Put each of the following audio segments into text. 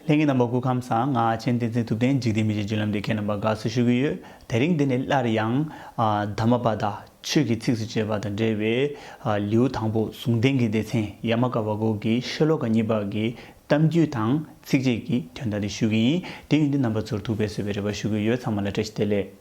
ལྷན་སྐྱེས་རྣམ་པ་སྐུ་ཁམས་གསང་སྔགས་སྤྱན་ལྡན་མཚན་ཐུབ་བསྟན་འཇིག་རྟེན་མི་ཕྱེད་སྤྱོད་ལམ་འདི་མཁས་རྣམ་པར་དགའ་བསུ་ཞུ་གི་ཡོད་དེ་རིང་འདི་ནས་སླར་ཡང། དྷརྨ་པ་དག་ཆོས་ཀྱི་ཚིགས་སུ་བཅད་པ་དང་འབྲེལ་བའི། ལེའུ་དང་པོ་ཟུང་ལྡན་གྱི་སྡེ་ཚན་ཡ་མ་ཀ་བ་གོ་གི་ཤེ་ལོ་ཀ་གཉིས་པ་གི་གཏམ་རྒྱུད་དང་ཚིགས་བཅད་ཀྱི་དོན་དག་འདི་ཞུ་གི་ཡིན་དེ་ཡོན་ཏན་རྣམ་པ་ཚོར་ཐུགས་ཕན་གསོས་པའི་རེ་བ་ཞུ་གི་ཡོད་ཚང་མ་ལ་བཀྲ་ཤིས་བདེ་ལེགས།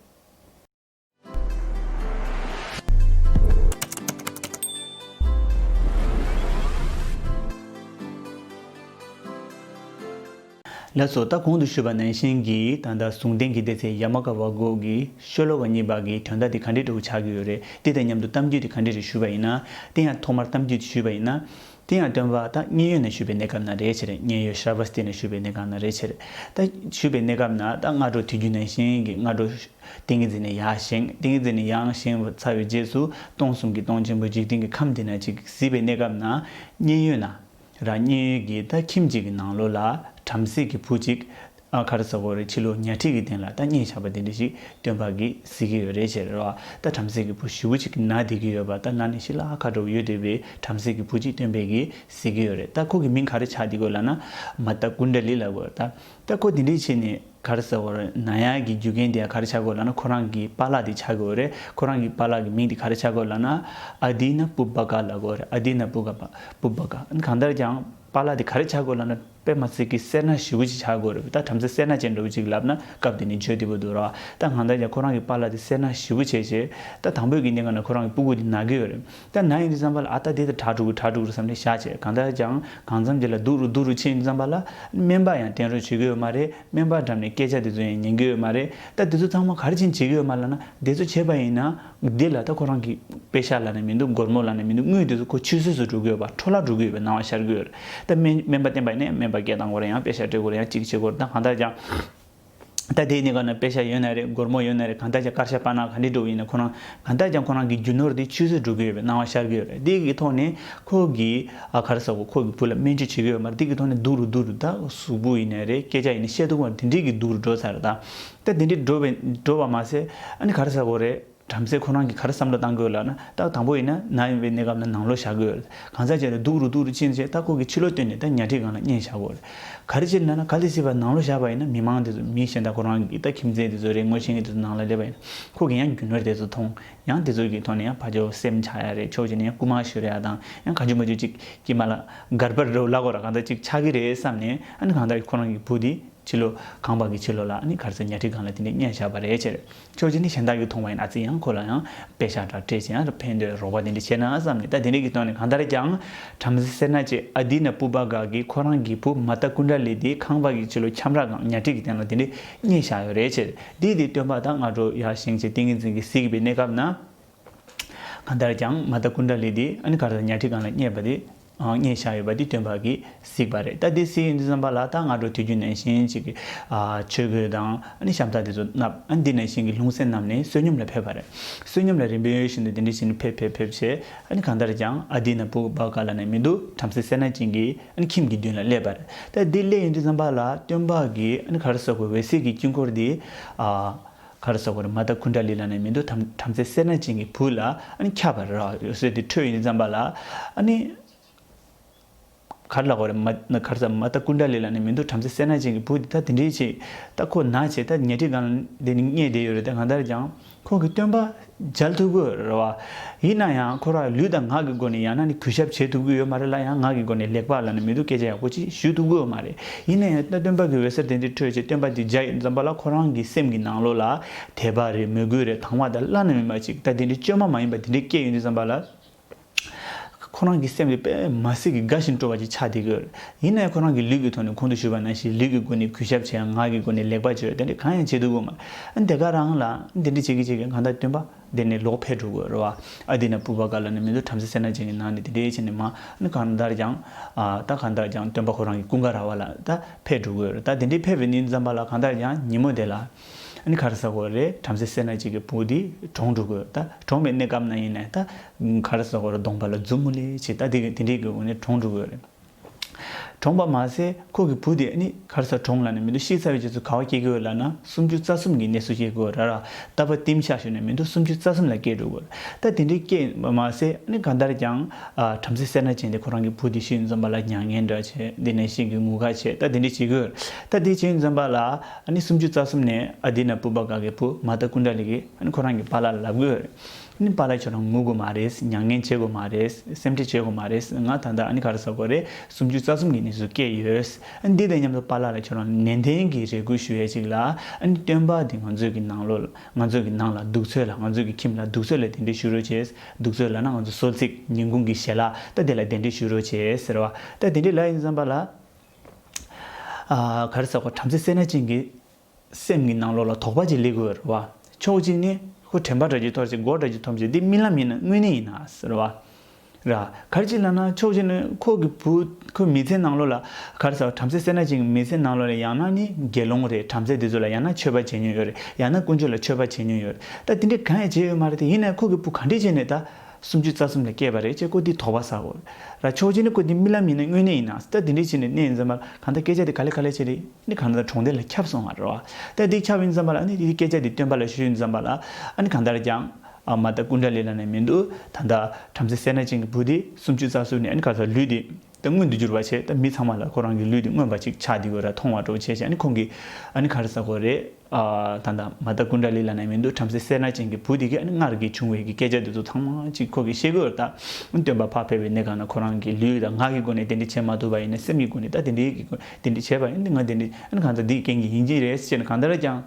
ལྷ་སོགས་རྟ་གོང་དུ་བཞུགས་པ་ནན་ཤན་གྱི་ད་ལྟ་གཟུངས་བསྟན་གྱི་ལྟེ་ཚེ་ཡ་མ་ཀ་བ་སྒོག་གི་ཤོ་ལོ་བ་གཉིས་པ་གི་དོན་དག་དེ་ག་འདྲའི་སྤྲོ་བོ་ཆགས་ཀྱི་ཡོད་རེད་དེ་དང་མཉམ་དུ་གཏམ་རྒྱུད་དེ་ག་འདྲའི་རེད་ཞུས་པ་ཡིན་ན་དེ་ཡང་ཐོག་མར་གཏམ་རྒྱུད་དེ་ཞུས་པ་ཡིན་ན། དེ་ཡང་སྟོན་པ་ད་མཉན་ཡོད་ནས་ཞུས་པའི་གནས་སྐབས་ན་རེའི་ཕྱིར་མཉན་ཡོད་ཤྲཱི་བྷཱ་སྟི་ནས་ཞུས་པའི་གནས་སྐབས་ན་རེའི་ཕྱིར། ད་ཞུས་པའི་གནས་སྐབས་ན་ད་སྔ་དྲོ་དུས་རྒྱུན་ནས་ཤིང་གི་སྔ་དྲོ། ཏིང་ངེ་འཛིན་ནས་ཡང་ཤིང་ཏིང་ངེ་འཛིན་ནས་ཡང་ཤིང་ཚར་བའི་རྗེས་སུ་སྟོང་གསུམ་གྱི་སྟོང་ཆེན་པོའི་འཇིག་རྟེན་གྱི་ཁམས་འདི་ན་གཅིག་གཟིགས་པའི་གནས་སྐབས་ན་མཉན་ཡོད་ན། ར་མཉན་ཡོད་ཀྱིས་ད་ཁྱིམ་གཅིག་གི་ནང་ལོགས་ལ་བྲམ་ཟེ་གྱི་བུ་གཅིག། ཨ་ཁར་ཟ་གོ་རེད་ཕྱི་ལོ་ཉག་ཁྲིག་གི་སྟེང་ལ་ལྟ་རྙེད་ཆགས་པ་དེ་འདྲ་ཞིག་སྟོན་པ་གིས་གཟིགས་ཀྱི་ཡོད་རེད་ཅེས་རེད་བ་ལྟ་བྲམ་ཟེ་གི་བུ་བཞི་བོ་ཅིག་ན་བསྡད་ཀྱི་ཡོད་པ་ལྟ་ན་ནས་ཤི་ལ་ཨ་ཁ་འགྲོ་གི་ཡོད་དེ་བས་བྲམ་ཟེ་གི་བུ་གཅིག་སྟོན་པས་གིས་གཟིགས་ཀྱི་ཡོད་རེད་ལྟ་ཁོ་གི་མིང་ག་རེ་ཆགས་འདི་གོ་ལ་ན་མ་ལྟ་ཀུན་དགའ་ལི་ལ་གོ་ལྟ་ལྟ་ཁོ་དེ་འདྲའི་ཆེད་ནས་ཁར་ཟ་གོ་རེད་ན་ཡག་གི་རྒྱུ་རྐྱེན་དེ་ག་རེ་ཆགས་གོ་ལ་ན་ཁོ་རང་གི་པ་ལགས་དེ་ཆགས་ཀྱི་འོ་རེད་ཁོ་རང་གི་པ་ལགས་གི་མིང་དེ་ག་རེ་ཆགས་གོ་ལ་ན་ཨ་དེའི་ན་པུ་པ་ག་ལ་གོ་རེད་ཨ་དེའི་ན་པུ་ག་པ་པུ་པ་ག་གང་ལྟར་ཀྱང། པཱ་ལགས་དེ་ག་རེ་བྱ་དགོས་ལབ་ན་པད་མ་ཚིག་གི་སེར་སྣ་ཞེ་བོ་ཅིག་བྱ་དགོས་རེད་བུད་ད་བྲམ་ཟེ་སེར་སྣ་ཅན་འདྲ་བོ་ཅིག་ལབ་ན་སྐབས་དེ་ནས་བརྗོད་བདེ་པོ་འདུག་རོ་ད་ང་ད་ཡ་ཁོ་རང་གི་པཱ་ལགས་དེ་སེར་སྣ་ཞེ་བོ་བྱས་བྱས་ད་དང་བོད་ཀྱི་གནས་ངན་ན་ཁོ་རང་གི་སྤུ་གུ་དེ་ན་གི་ཡོད་རེད་ད་ན་ཡིན་དུས་བརྩམས་པ་ལ་ཨ་ད་དེ་ད་གྲ་དྲུག་གི་གྲ་དྲུག་རེད་བསམ་ནས་བཞག་བྱས་གང་ལྟར་ཀྱང་གང་བརྩམས་དེ་ལ་སྡུག་རུ་སྡུག་རུ་ཕྱིན་བརྩམས་པ་ལ་སྨན་པ་ཡང་བསྟེན་རོགས་བྱེད་གི་ཡོད་མ་རེད་སྨན་པ་འགྲམ་ནས་སྐད་ཆ་དེ་ཚོ་ཡང་ཉན་གི་ཡོད་མ་རེད་ད་དེ་ཚོ་ཚང་མ་ག་རེ་བྱིན་བྱེད་ཀྱི་ཡོད་མ་ལབ་ན་དེ་ཚོ་བྱས་པ་ཡིན་ན། འདི་ལ་ད་ཁོ་རང་གིས་དཔེ་ཤར་ལ་ནས་མི་འདུག་སྒོར་མོ་ལ་ནས་མི་འདུག་དངུལ་དེ་ཚོ་ཁོ་ཆུད་ཟོས་སུ་འགྲོ་གི་ཡོད་པ་འཕྲོ་བརླག་འགྲོ་གི་ཡོད་པའི་སྣང་བ་ཤར་གི་ཡོད་རེད་ད་སྨན་སྨན་པ་བསྟེན་པ་ནས་སྨན་པ་སྐད་བཏང་སྐོར་ཡང་དཔེ་ཤར་སྤྲད་སྐོར་ཡང་ཅིག་བྱེད་སྐོར་ད་གང་ལྟར་ཀྱང་ད་དེའི་གནད་འགག་ན་དཔེ་ཤར་ཡོད་ན་རེད་སྒོར་མོ་ཡོད་ན་རེད་གང་ལྟར་ཀྱང་དཀར་ཤ་པ་ན་ག་འདྲས་འགྲོ་གི་ཡིན་ན་ཁོ་རང་གང་ལྟར་ཀྱང་ཁོ་རང་གི་རྒྱུ་ནོར་དེ་ཆུད་ཟོས་འགྲོ་གི་ཡོད་པའི་སྣང་བ་ཤར་གི་ཡོད་རེད་དེ་གི་ཐོག་ནས་ཁོ་གིས་ཨ་གར་ཟ་གོ་ཁོ་གི་བུ་ལ་སྨན་བཅོས་བྱེད་གི་ཡོད་མ་རེད་དེ་གི་ཐོག་ནས་སྡུག་རུ་སྡུག་རུ་ད་གཟུགས་པོ་ཡིན་ན་རེད་སྐད་ཆ་ཡིན་ན་བཤད་སྡུག་བ་དེ་འདྲས་ཀྱི་སྡུག་རུ་འགྲོ་ཚར་རེད་ད། ད་དེ་འདྲའི་འགྲོ་བའི་འགྲོ་བ་མ་ཟད་ཨ་ནི་ག་རེ་ཟ་དགོས་རེད་བྲམ་ཟེ་ཁོ་རང་གིས་ག་རེ་བསམ་བློ་བཏང་དགོས་ལགས་ན་རྟགས་དང་པོ་ཡིན་ན་ན་ཡོང་བའི་གནས་སྐབས་ན་ནང་ལོག་བཞག་དགོས་རེད་གང་ཟག་ཅིག་ལ་སྡུག་རུ་སྡུག་རུ་ཅི་ནས་ཅི་རྟགས་ཁོ་གི་ཕྱི་ལོག་བསྟོད་ནས་ད་ཉལ་ཁྲིའི་སྒང་ལ་གཉན་བཞག་དགོས་རེད་ག་རེ་སྤྱིར་ན་ན་ག་ལས་སྲིད་པ་ནང་ལོག་བཞག་པ་ཡིན་ན་མི་མང་དེ་ཚོ་མི་གཞན་དག་ཁོ་རང་གི་ད་ཁྱིམ་མཚེས་དེ་ཚོ་རེད་ངོ་ཤེས་མཁན་དེ་ཚོ་ནང་ལ་སླེབས་པ་ཡིན་ན་ཁོ་གིས་ཡང་རྒྱུ་ནོར་དེ་ཚོ་མཐོང་ཡང་དེ་ཚོ་གི་ཐོག་ནས་ཡང་ཕ་ཇོ་སེམས་ཆགས་ཡ་རེད་ཕྱོགས་གཅིག་ནས་ཡང་རྐུ་མ་ཤི་རེ་ཡ་དང་ཡང་ག་རྒྱུ་མ་རྒྱུ་ཅིག་གིས་མ་ལ་སྒར་པར་རོ་བླ་གོར་ར་གང་ད་ཅིག་ཆགས་ཀྱི་རེད་བསམ་ནས་ཨ་ནི་གང་ལྟར་ཁོ་རང་གི་བུ་དེ། ཕྱི་ལོ། ཁང་པ་གི་ཕྱི་ལོ་ལ་ནི་གར་ཚོས་ཉལ་ཁྲི་སྒང་ལ་དེ་ནས་བརྙན་བཞག་པ་རེད་ཅེར། ཁྱོད་ཀྱིས་ནི་གཞན་དག་གིས་མཐོང་བ་ཡིན་ཨ་ཙི་ཡང་ཁོ་ལ་ཡང་དཔེ་ཞག་འདྲ་སྤྲད་ཅིང་ཨར་ཕན་འདོད་རོགས་པ་དེ་འདྲ་བྱས་ན་བསམ་ནས་ད་དེ་འདྲ་གི་སྟོན་ནས་གང་ལྟར་ཀྱང་བྲམ་ཟེ་སེར་སྣ་ཅེས་ཨ་དེའི་ན་སྤུ་པ་འགའ་གིས་ཁོ་རང་གི་བུ་མ་སྟ་ཀུན་དགྲ་ལས་དེའི་ཁང་པ་གི་ཕྱི་ལོ་ཁྱམས་ར་སྒང་ཉལ་ཁྲི་གི་སྟེང་ལ་དེ་འདྲའི་བརྙན་བཞག་ཡོད་རེད་ཅེར། དེའི་དེའི་སྟོན་པ་དང་སྔ་དྲོ་ཡར་བཞེངས་བྱས་ཏིང་ངེ་འཛིན་གྱིས་གཟིགས་དགོས་པའི་གནས་སྐབས་ན། གང་ལྟར་ཀྱང་མ་སྟ་ཀུན་དགྲ་ལས་དེའི་ཨ་ནི་གར་ཚོས་ཉལ་ཁྲི་སྒང་ལ་བསྙད་པ་དེ། ངས་བཞག་ཡོད་པ་འདི་སྟོན་པ་གིས་གཟིགས་པ་རེད་ད་དེ་གཟིགས་ཡོད་འདུག་བསམ་པ་ལ་ད་སྔ་དྲོ་དུས་རྒྱུན་ནས་ཤིང་གཅིག་གི་ཆོས་གོས་དང་ཤམ་ཐག་དེ་ཚོ་མནབས་ཨ་འདི་ནས་ཤིང་གི་ལྷུང་བཟེད་མནབས་ནས་བསོད་སྙོམས་ལ་ཕེབས་པ་རེད་བསོད་སྙོམས་ལ་རིམ་པས་ཡོད་བཞིན་དུ་དེ་འདྲི་བཞིན་ཕེབས་ཕེབས་ཕེབས་བྱས་ཨ་གང་ལྟར་ཀྱང་ཨ་འདི་ན་བུག་བག་ག་ལ་ནས་མི་འདུག་བྲམ་ཟེ་སེར་སྣ་ཅན་གྱིས་ཁྱིམ་གྱི་མདུན་ལ་སླེབས་པ་རེད་ད་དེ་སླེབས་ཡོད་འདུག་བསམ་པ་ལ་སྟོན་པ་གིས་གར་སོག་པའི་འོད་ཟེར་གྱི་དཀྱིལ་འཁོར་འདི་གར་ཟ་བར་མ་བཏགས་ཁུ་འདྲ་ལི་ལ་ནས་མི་འདུག་དམ་བྲམ་ཟེ་སེར་སྣ་ཅན་གྱི་བུ་ལ་ཁྱབ་པར་རོ། ཡོད་ཟེར་ཏེ་ཁྲོས་ཡིན་བརྩམས་པ་ལ། གར་ལ་བར་མ་གར་ཟ་བར་མ་བཏགས་ཁུ་འདྲ་ལི་ལ་ནས་མི་འདུག་བྲམ་ཟེ་སེར་སྣ་ཅན་གྱི་བུ་འདི་ལྟ་དེ་འདྲའི་ཆེད་ལྟ་ཁོ་ན་བྱས་ལྟ་ཉལ་ཁྲི་གང་ལ་འདི་ནི་རྙེད་བསྡད་ཡོད་རེད་དེ་གང་ལྟར་ཀྱང་ཁོང་གིས་སྟོན་པ་འཇལ་ཐུབ་གི་རེད་བ། ཡིན་ན་ཡང་ཁོ་རང་ལུས་དང་ངག་གི་སྒོ་ནས་ཡང་ན་ནི་གུས་ཞབས་བྱེད་ཐུབ་ཀྱི་ཡོད་མ་རེད་ལ་ཡང་ངག་གི་སྒོ་ནས་ལེགས་པར་ལ་ནི་མི་སྡུག་སྐད་ཆ་ཡག་པོ་ཅིག་ཞུ་ཐུབ་ཀྱི་ཡོད་མ་རེད། ཡིན་ན་ཡང་སྟོན་པ་གི་འོད་ཟེར་དེ་འདྲའི་འཕྲོས་རྗེས་སྟོན་པ་དེ་རྒྱ་ཡིས་འཛོམས་པ་ལ་ཁོ་རང་གི་སེམས་ཀྱི་ནང་ལོགས་ལ་དད་པ་རེད་མོས་གུས་རེད་དང་བ་དང་བླ་ན་མེད་པ་ཅིག་ད་དེ་འདྲའི་བཅོས་མ་མ་ཡིན་པ་དེ་འདྲའི་སྐད་ཡོད་འདུག་བསམ་པ་ལ། ཁོ་རང་གི་སེམས་ཀྱི་པད་མ་གསེར་གྱི་གྭ་བཞིན་སྤྲོ་བ་ཅིག་ཆགས་བསྡད་ཡོད། ཡིན་ནའི་ཁོ་རང་གིས་ལུས་ཀྱི་ཐོག་ནས་གོང་དུ་ཞུས་པ་ནང་བཞིན་ལུས་ཀྱི་སྒོ་ནས་གུས་ཞབས་བྱེད་ཡང་ངག་གི་སྒོ་ནས་ལེགས་པར་བརྗོད་དེ་འདྲ་གང་ཡང་བྱེད་ཐུབ་ཀྱི་མེད། དེ་ག་རང་ལ་དེ་འདྲ་བྱེད་ཀྱི་བྱེད་ཀྱི་གང་ལྟར་སྟོན་པ་དེ་ནི་ལོག་ཕེབས་འགྲོ་དགོས་རོ། ཨ་དེ་ན་བུ་བ་ག་ལ་ནི་མི་ཚོ་བྲམ་ཟེ་སེར་ནག་ཅན་གྱི་ནང་ནས་དེ་འདྲའི་བྱེད་ནས་མ་གང་ལྟར་ཀྱང་ད་གང་ལྟར་ཀྱང་སྟོན་པ་ཁོ་རང་གི་ཀུན་དགའ་ར་བ་ལ་ད་ཕེབས་འགྲོ་དགོས་རོ་ད་དེ་འདྲའི་ཕེབས་པའི་ནི་འཛམ་བ་ལ་གང་ལྟར་ཀྱང་ཉིན་མོ་དེ་ལ། ཨ་ནི་ག་རེ་ཟ་དགོས་རེད་བྲམ་ཟེ་སེར་སྣ་གཅིག་གི་བུ་འདི་གྲོངས་འགྲོ་དགོས་ད་གྲོངས་པའི་གནས་སྐབས་ན་ཡིན་ནས་ད་ག་རེ་ཟ་དགོས་རེད་གདོང་པ་ལ་མཛུབ་མོ་ལེ་བྱས་ད་དེ་གིས་དེ་འདྲའི་གི་བུ་ནི་གྲོངས་འགྲོ་དགོས་རེད། གྲོངས་པ་མ་ཟད་ཁོ་གི་བུ་དེ་ཨ་ནི་ག་རེ་ཟ་གྲོངས་ལ་ནི་མི་འདུག་ཤི་ཚར་བའི་རྗེས་སུ་ག་བ་སྐྱེ་དགོས་ལ་ན་སུམ་ཅུ་རྩ་གསུམ་གྱི་གནས་སུ་སྐྱེ་དགོས་ར་ར་ད་བ་ཏིམ་ཤ་ཤོ་ནས་མི་འདུག་སུམ་ཅུ་རྩ་གསུམ་ལ་སྐྱེ་འགྲོ་དགོས་རེད་ད་དེ་འདྲའི་སྐྱེས་པ་མ་ཟད་ཨ་ནི་གང་ལྟར་ཀྱང་བྲམ་ཟེ་སེར་སྣ་ཅན་དེ་ཁོ་རང་གི་བུ་དེ་ཤིང་འཛོམས་པ་ལ་མྱ་ངན་འདྲ་བྱས་དེ་ནས་ཤིང་གི་ངུ་ག་བྱས་ད་དེ་འདྲའི་བྱེད་དགོས་རེད་ད་དེ་ཤིང་འཛོམས་པ་ལ་ཨ་ནི་སུམ་ཅུ་རྩ་གསུམ་ནས་ཨ་དེ་ན་བུ་པ་ག་གི་བུ་མ་ལྟ་སྐུ་འདྲ་ལི་གི་ཨ་ནི་ཁོ་རང་གི་པ་ལ་ལབ་དགོས་རེད་ཨ་ནི་པ་ལ་ཁྱོད་རང་ངུ་དགོས་མ་རེད་མྱ་ངན་བྱེད་དགོས་མ་རེད་སེམས་ཁྲེལ་བྱེད་དགོས་མ་རེད་ང་ད་ལྟ་ཨ་ནི་ག་རེ་བཟོ་དགོས་རེད་སུམ་ཅུ་རྩ་གསུམ་གི་ནི་ཟུག་སྐད་ཡོད་ཨ་ནི་དེ་དང་མཉམ་དུ་པ་ལ་ལ་ཁྱོད་རང་ནན་ཏན་གི་རེ་སྐུལ་ཞུ་ཡས་ཅིག་ལ་ཨ་ནི་སྟོན་པ་དེ་ང་ཚོས་གི་ནང་ལོ་ལ་ང་ཚོས་གི་ནང་ལ་གདུགས་ཚོད་ལ་ང་ཚོས་གི་ཁྱིམ་ལ་གདུགས་ཚོད་ལ་དེ་འདྲི་ཞུ་རོ་བྱས་གདུགས་ཚོད་ལ་ན་ང་ཚོ་སོལ་ཚིགས་ཉིན་གུང་གི་ཞལ་ལག་ལྟ་དེ་ལ་དེ་འདྲི་ཞུ་རོ་བྱས་ཟེར་བ་ལྟ་དེ་འདྲི་ལ་ཡིན་བསམ་པ་ལ། ག་རེ་བསགས་པ་བྲམ་ཟེ་སེར་སྣ་ཅན་གྱི་སེམས་ཀྱི་ནང་ལོགས་ལ་དོགས་པ་ཅིག་ལེགས་འོད་རེད་བ། ཕྱོགས་གཅིག་ནས་ཧུ་དྲན་པ་འདྲ་ཅིག་འཐོར་ཞིང་མགོ་འདྲ་ཅིག་འཐོམ་ཞིང་འདི་རྨི་ལམ་ཡིན་ན་དངོས་གནས་ཡིན་ན་ཟེར་བ། ར། ག་རེ་ཅིག་ལབ་ན་ཕྱོགས་གཅིག་ནས་ཁོ་གི་བུ་ཁོའི་མི་ཚེའི་ནང་ལོགས་ལ་ག་རེ་བསགས་པ་བྲམ་ཟེ་སེར་སྣ་ཅན་གྱི་མི་ཚེའི་ནང་ལོགས་ལ་ཡང་ན་ནི་དགེ་སློང་རེད་བྲམ་ཟེ་འདི་ཚོ་ལ་ཡང་ན་མཆོད་པ་བྱེད་མྱོང་ཡོད་རེད་ཡང་ན་དཀོན་མཆོག་ལ་མཆོད་པ་བྱེད་མྱོང་ཡོད་རེད་ད་དེ་འདྲའི་གང་ཡང་བྱས་ཡོད་མ་རེད་དེ་ཡིན་ན་ཁོ་གི་བུ་གང་འདྲས་བྱས་ནས་ད་སུམ་ཅུ་རྩ་གསུམ་ལས་སྐྱེས་པ་རེད་ཅེས་ཀོ་འདི་དོགས་པ་ཟ་འོ། ར་ཆོག་ཅེས་ནི་ཀོ་འདི་རྨི་ལམ་ཡིན་ན་དངོས་གནས་ཡིན་ན་སྟ་འདི་འདྲས་བྱས་ནས་གནས་ཡིན་ཙམ་པར་གང་ལྟར་སྐད་ཆ་འདི་ག་ལས་ག་ལས་བྱས་ཏེ་ནི་གང་ལྟར་གྲོང་སྡེ་ལ་ཁྱབ་སོང་བ་རེད་བ། སྟ་འདི་ཁྱབ་ཡིན་ཙམ་པར་ཨ་ནི་འདིའི་སྐད་ཆ་འདི་སྟོན་པ་ལ་ཞུས་ཡིན་ཙམ་པར་ཨ་ནི་གང་ལྟར་ཀྱང། མ་ལྟ་ཀུན་དགའ་ལས་ལ་ནས་མི་འདུག་ད་ལྟ་བྲམ་ཟེ་སེར་སྣ་ཅན་གྱི་བུ་འདི་སུམ་ཅུ་རྩ་གསུམ་ནས་ཨ་ནི་ག་ཚོད་ལུས་འདི། ད་མངོན་དུ་འགྱུར་བ་བྱས་ད་མི་ཚང་མ་ལ་ཁོ་རང་གི་ལུས་འདི་མངོན་པ་ཅིག་ཆགས་འདི་གོ་ར་མཐོང་བ་གྲོགས་བྱས་བྱས་ཨ་ནི་ཁོང་གི་ཨ་ནི་ག་རེ་ཟ་གོ་རེ་ད་ད་མ་ད་ཀུན་དགའ་ལི་ལ་ན་མི་འདུག་བྲམ་ཟེ་སེར་སྣ་ཅན་གྱི་བུ་དེ་གིས་ཨ་ནི་སྔར་གྱི་བྱུང་བའི་གི་སྐད་ཆ་འདི་ཚོ་ཚང་མ་ཅིག་ཁོ་གིས་ཤེས་དགོས་ད་ཨ་ནི་སྟོན་པ་འཕགས་ཕེབས་པའི་གནས་གང་ན་ཁོ་རང་གི་ལུས་ད་ངག་གི་སྒོ་ནས་དེ་འདྲི་བྱེད་མ་ཐུབ་པ་ཡིན་ན་སེམས་ཀྱི་སྒོ་ནས་ད་དེ་འདྲི་གི་དེ་འདྲི་བྱེད་པ་ཡིན་ད་ང་དེ་འདྲི་ཨ་ནི་གང་ད་འདི་ཡི་རྐྱེན་གྱིས་ཡིན་གྱི་རེད་ཟེར་ནས་གང་ལྟར་ཀྱང།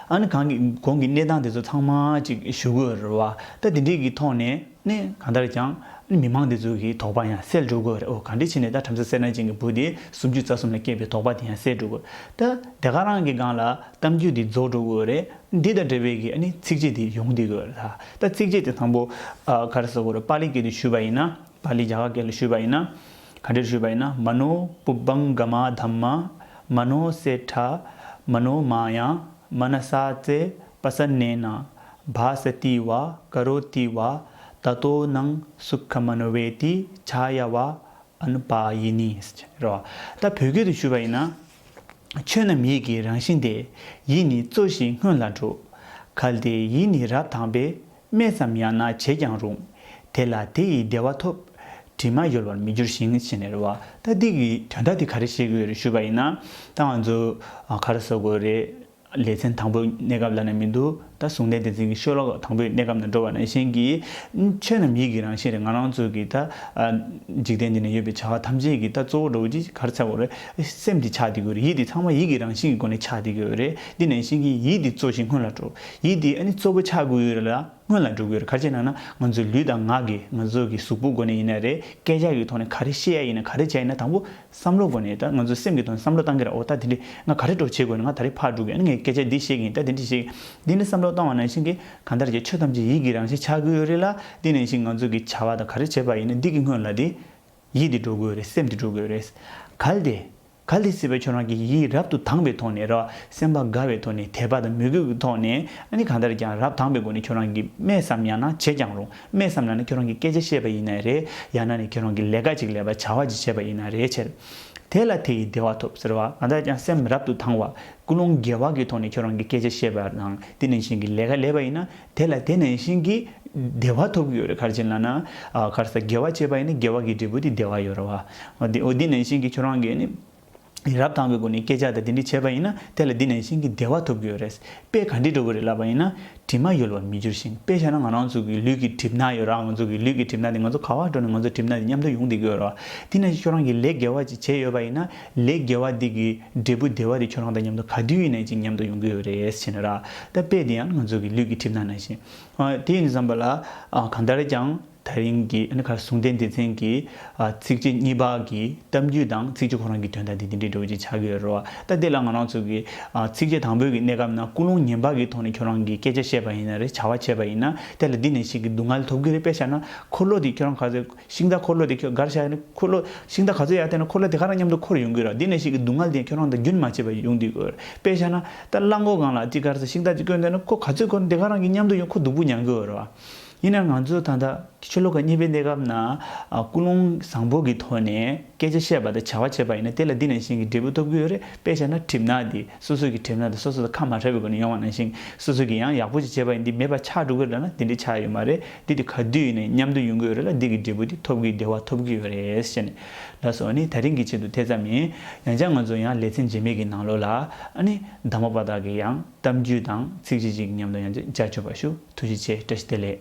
ཨ་ནི་གང་གི་གོང་གི་གནས་སྟངས་དེ་ཚོ་ཚང་མ་ཅིག་ཞུ་དགོས་རེད་བ་ད་དེ་འདྲས་ཀྱི་ཐོག་ནས་ནི་གང་ལྟར་ཀྱང་ཨ་ནི་མི་མང་དེ་ཚོ་གི་དོགས་པ་ཡང་སེལ་འགྲོ་དགོས་རེད་འོ་ག་འདྲས་ཕྱི་ནས་ད་བྲམ་ཟེ་སེར་ནག་ཅན་གྱི་བུ་དེ་སུམ་ཅུ་རྩ་གསུམ་ལ་སྐྱེས་པའི་དོགས་པ་དེ་ཡང་སེལ་འགྲོ་དགོས་ད་དེ་ག་རང་གི་སྒང་ལ་གཏམ་རྒྱུད་དེ་རྫོགས་འགྲོ་དགོས་རེད་འདི་དང་འབྲེལ་བའི་གི་ཨ་ནི་ཚིགས་བཅད་དེ་ཡོང་བསྡད་དགོས་རེད་ད་ཚིགས་བཅད་དེ་དང་པོ་ཨ་ག་རེ་ཟེར་དགོས་རེད་པཱ་ལི་སྐད་དུ་ཞུས་པ་ཡིན་ན་པཱ་ལི་རྒྱ་གར་སྐད་ལ་ཞུས་པ་ཡིན་ན། ག་འདྲེར་བཞུད་པ་ཡིན་ན་མ་ནོ་པུབ་བང་ག་མ་དྷམ་མ། མ་ནོ་སེ་ཏྲ། མ་ནོ་མ་ཡ། མ་ན་སྭ་ཙེ་པ་ས་ནེ་ན། བྷ་ས་ཏི་བ་ཀ་རོ་ཏི་བ། ད་ཏོ་ནང་སུ་ཁ་མ་ནོ་བྷེ་ཏི་ཆ་ཡ་བ་ཨ་ནུ་པ་ཡི་ནི། རེ་བ། ད་བོད་སྐད་དུ་བཞུད་པ་ཡིན་ན། ཆོས་རྣམས་ཡིད་ཀྱི་རང་བཞིན་ཏེ། ཡིད་ནི་གཙོ་ཞིང་སྔོན་ལ་འགྲོ། གལ་ཏེ་ཡིད་ནི་རབ་དྭངས་པས་སྨྲས་སམ་ཡང་ན་བྱས་ཀྱང་རུང། དེ་ལ་དེ་ཡི་བདེ་བ་ཐོབ། དྲི་མ་ཡོལ་བར་མི་འགྱུར་ཞིང་ཞེས་ནི་རེ་བ་ལྟ་སྡིག་གི་དོན་དག་དེ་ག་རེ་བྱེད་དགོས་རེ་ཞུས་པ་ཡིན་ན། ད་ང་ཚོ་ག་རེ་བཟོ་དགོས་རེད། ལེ་ཚན་དང་པོའི་གནས་སྐབས་ལ་ནི་མི་འདུག་ད་གཟུང་དེ་དེ་ཚིག་གི་ཤོ་ལོག་དང་པོའི་གནས་སྐབས་ན་འགྲོ་བ་ན་གཞན་གྱི། ཆོས་རྣམས་ཡིད་ཀྱི་རང་བཞིན་རེད་ང་རང་ཚོ་གི་ད། འཇིག་རྟེན་འདི་ན་ཡོད་པའི་བྱ་བ་ཐམས་ཅད་ཀྱི་ད་གཙོ་བོ་འགྲོ་བ་གཅིག་ག་རེ་བྱ་དགོས་རེད། སེམས་དེ་ཆགས་དེ་དགོས་རེད་ཡིད་དེ་ཚང་མ་ཡིད་ཀྱི་རང་བཞིན་གྱི་སྒོ་ནས་ཆགས་དེ་དགོས་རེད་འདི་ནས་གཞན་གྱི་ཡིད་དེ་གཙོ་ཞིང་སྔོན་ལ་འགྲོ། ཡིད་དེ་ནི་གཙོ་བོ་ཆགས་དགོས་ཡོད་རེད་ལ་སྔོན་ལ་འགྲོ་དགོས་རེད་ག་ཅེ་ན་ན་ང་ཚོའི་ལུས་དང་ངག་གིས་ང་ཚོ་གི་གཟུགས་པོ་སྒོ་ནས་ཡིན་ན་རེད་སྐད་ཆ་གི་ཐོག་ནས་ག་རེ་བཤད་ཡ་ཡིན་ན་ག་རེ་བྱ་ཡིན་ན་དང་པོ་བསམ་བློ་སྒོ་ནས་ད་ང་ཚོ་སེམས་གི་ཐོག་ནས་བསམ་བློ་གཏང་གི་ར་འོ་ད་དེ་འདྲི་ང་ག་རེ་གྲོ་བྱེད་དགོས་ཡིན་ན་ང་ད་རེ་ཕར་འགྲོ་དགོས་ཡིན་ན་ངས་སྐད་ཆ་འདི་བཤད་གི་ཡིན་ད་དེ་འདྲི་བཤད་འདི་འདྲི་བསམ་བློ་གཏང་བ་ནང་བཞིན་གི་གང་ལྟར་གྱི་ཆོས་ཐམས་ཅད་ཡིད་ཀྱི་རང་བཞིན་ཆགས་དགོས་ཡོད་རེད་ལ་དེ་ནང་བཞིན་ང་ཚོ་གི་བྱ་བ་དང་ག་རེ་བྱེད་པ་ཡིན་ན་འདི་གི་སྔོན་ལ་དེ་ཡིད་དེ་འགྲོ་དགོས་རེད་སེམས་དེ་འགྲོ་དགོས་རེད་གལ་ཏེ་ག་ལས་སྲིད་པའི་ཆོས་རང་གི་ཡིད་རབ་ཏུ་དངས་པའི་ཐོག་ནས་རོ། སེམས་པ་དགའ་བའི་ཐོག་ནས་དད་པ་དང་མོས་གུས་ཀྱི་ཐོག་ནས་ནི་གང་ལྟར་ཀྱང་རབ་དངས་པའི་སྒོ་ནས་ཁྱོད་རང་གིས་སྨྲས་སམ་ཡང་ན་བྱས་ཀྱང་རུང་སྨྲས་སམ་ཡང་ན་ཁྱོད་རང་གི་སྐད་ཆ་བཤད་པ་ཡིན་ནའི་རེད་ཡང་ན་ནི་ཁྱོད་རང་གི་ལས་ཀ་ཅིག་ལས་པ་བྱ་བ་ཅིག་བྱས་པ་ཡིན་ནའི་རེད་བྱས། དེ་ལ་དེ་ཡིས་བདེ་བ་ཐོབ་ཟེར་བ་གང་ལྟར་ཀྱང་སེམས་རབ་ཏུ་དངས་བ་ཀུན་སློང་རྒྱལ་བ་ཀྱི་ཐོག་ནས་ཁྱོད་རང་གི་སྐད་ཆ་བཤད་པ་དང་དེ་ནི་གཞན་གྱི་ལས་ཀ་ལས་པ་ཡིན་ན་དེ་ལ་དེ་ནས་གཤིན་གྱི་བདེ་བ་ཐོབ་ཀྱི་ཡོད་རེད་གར་བྱིན་ལ་ན། གར་ས་དགེ་བ་བྱས་པ་ཡིན་ན་དགེ་བ་གྱི་འབྲས་བུ་དེ་བདེ་བ་ཡོད་ར་བ། འོ་དེ་ནས་གཤིན་གྱི་ཁྱོད་རང་གིས་ནི། རབ་དང་པོའི་སྒོ་ནས་སྐད་ཆ་དང་དེ་འདྲས་བྱས་པ་ཡིན་ན་དེ་ལ་དེ་ནས་གཤིན་གྱི་བདེ་བ་ཐོབ་ཀྱི་ཡོད་རེད། དཔེ་ག་འདྲས་འགྲོ་གི་རེད་ལབ་པ་ཡིན་ན། དྲི་མ་ཡོད་ལ་བ་མི་འགྱུར་ཞིང་དཔེ་བྱས་ན་ང་རང་ཚོ་གི་ལུས་ཀྱི་གྲིབ་ནག་ཡོད་ར་ང་ཚོ་གི་ལུས་ཀྱི་གྲིབ་ནག་དེ་ང་ཚོ་ག་བ་འགྲོ་ནས་ང་ཚོ་གྲིབ་ནག་དེ་མཉམ་དུ་ཡོང་བསྡད་ཀྱི་ཡོད་ར་བ། དེ་ནས་ཁྱོད་རང་གིས་ལས་དགེ་བ་ཅིག་བྱས་ཡོད་པ་ཡིན་ན། ལས་དགེ་བ་འདི་གི་འབྲས་བུ་བདེ་བ་རེ་ཁྱོད་རང་དང་མཉམ་དུ་ག་དུས་ཡིན་ན་ཅིག་མཉམ་དུ་ཡོང་གི་ཡོད་རེད་བྱས་ན་ར་ད་དཔེ་འདི་ཡང་ང་ཚོ་གི་ལུས་ཀྱི་གྲིབ་ནག་ནང་བཞིན། དེ་ཡིན་བསམ་པ་ལ་གང་ལྟར་ཀྱང་ད་རིང་གི་ཨ་ནི་གར་ཟུང་སྡེ་འདི་ཚན་གྱི་ཚིགས་བཅད་གཉིས་པ་གི་གཏམ་རྒྱུད་དང་ཚིགས་བཅད་ཁོ་རང་གི་དོན་དག་འདི་འདི་འདྲའི་འབྲས་བུ་ཅིག་ཆགས་ཀྱི་ཡོད་རོ། ད་དེ་ལ་ང་རང་ཚོ་གི་ཚིགས་བཅད་དང་པོའི་གི་གནས་སྐབས་ན་ཀུན་སློང་ངན་པ་གི་ཐོག་ནས་ཁྱོད་རང་གི་སྐད་ཆ་བཤད་པ་ཡིན་ན་རེ་བྱ་བ་བྱས་པ་ཡིན་ན་དེ་ལ་འདི་ནས་ཞིག་གི་སྡུག་བསྔལ་ཐོབ་གི་རེད་དཔེ་བྱས་ན་འཁོར་ལོ་འདི་ཁྱོད་རང་ག་ཚོད་ཤིང་རྟ་འཁོར་ལོ་དེ་ཁྱོད་གར་བཞག་ནས་འཁོར་ལོ་ཤིང་རྟ་ག་ཚོད་ཡར་བསྟན་ན་འཁོར་ལོ་དེ་ག་རང་མཉམ་དུ་འཁོར་ཡོང་གི་རོགས་འདི་ནས་ཤིག་གི་སྡུག་བསྔལ་དེ་ཁྱོད་རང་དང་རྒྱུན་མ་ཆད་པར་ཡོང་དུས་འོད་དཔེ་ཤར་ན་རྟ་གླང་འཁོར་སྒང་ལ་ཅིག་གར་ཚེ་ཤིང་རྟ་ཅིག་བསྐོན་འདོད་ན་འཁོར་ག་ཚོད་འཁོར་དེ་ག་རང་གི་མཉམ་དུ་ཡོང་འཁོར་སྡུག་པོ་མྱང་གི་འོད་རོགས། ཡིན་ནའང་ང་ཚོ་ད་ལྟ་ཆོས་ལོ་ག་གཉིས་པའི་གནས་སྐབས་ན་ཀུན་སློང་བཟང་པོ་གི་ཐོག་ནས་སྐད་ཆ་བཤད་པ་དང་བྱ་བ་བྱེད་པ་ཡིན་ན་དེ་ལ་འདི་ནས་ཤིང་གི་འབྲས་བུ་ཐོབ་གི་ཡོད་རེད་དཔེ་ཤར་ན་གྲིབ་ནག་འདི་སོ་སོ་གི་གྲིབ་ནག་དེ་སོ་སོ་དང་ཁ་མ་བྲལ་བའི་སྒོ་ནས་ཡོང་བ་ནང་བཞིན་སོ་སོ་གི་ཡང་ཡག་པོ་ཅིག་བྱེད་པ་ཡིན་འདི་མེད་པ་ཆགས་འགྲོ་གི་རེད་ན་འདི་འདྲའི་ཆགས་ཡོད་མ་རེད། འདི་དེ་ག་དུས་ཡིན་ནས་མཉམ་དུ་ཡོང་གི་ཡོད་རེད་ལ་འདི་གི་འབྲས་བུ་དེ་ཐོབ་ཀྱི་བདེ་བ་ཐོབ་ཀྱི་ཡོད་རེད་བཤད་ནས་ལ་སོང་ནི་ད་རིང་གི་ཆེད་དུ་དེ་ཙམ་ཡིན་ཡང་ཅང་ང་ཚོ་ཡང་ལེ་ཚན་རྗེས་མེད་ཀྱི་ནང་ལོགས་ལ་ཨ་ནི་བདག་མོ་པ་དག་གི་ཡང་གཏམ་རྒྱུད་དང་ཚིག་གཅིག་གཅིག་གི་མཉམ་དུ་ཡང་ཅིག་ཅར་འཆོས་པ་ཞུ་ཐུགས་རྗེ་ཆེ་བཀྲ་ཤིས་བདེ་ལེགས།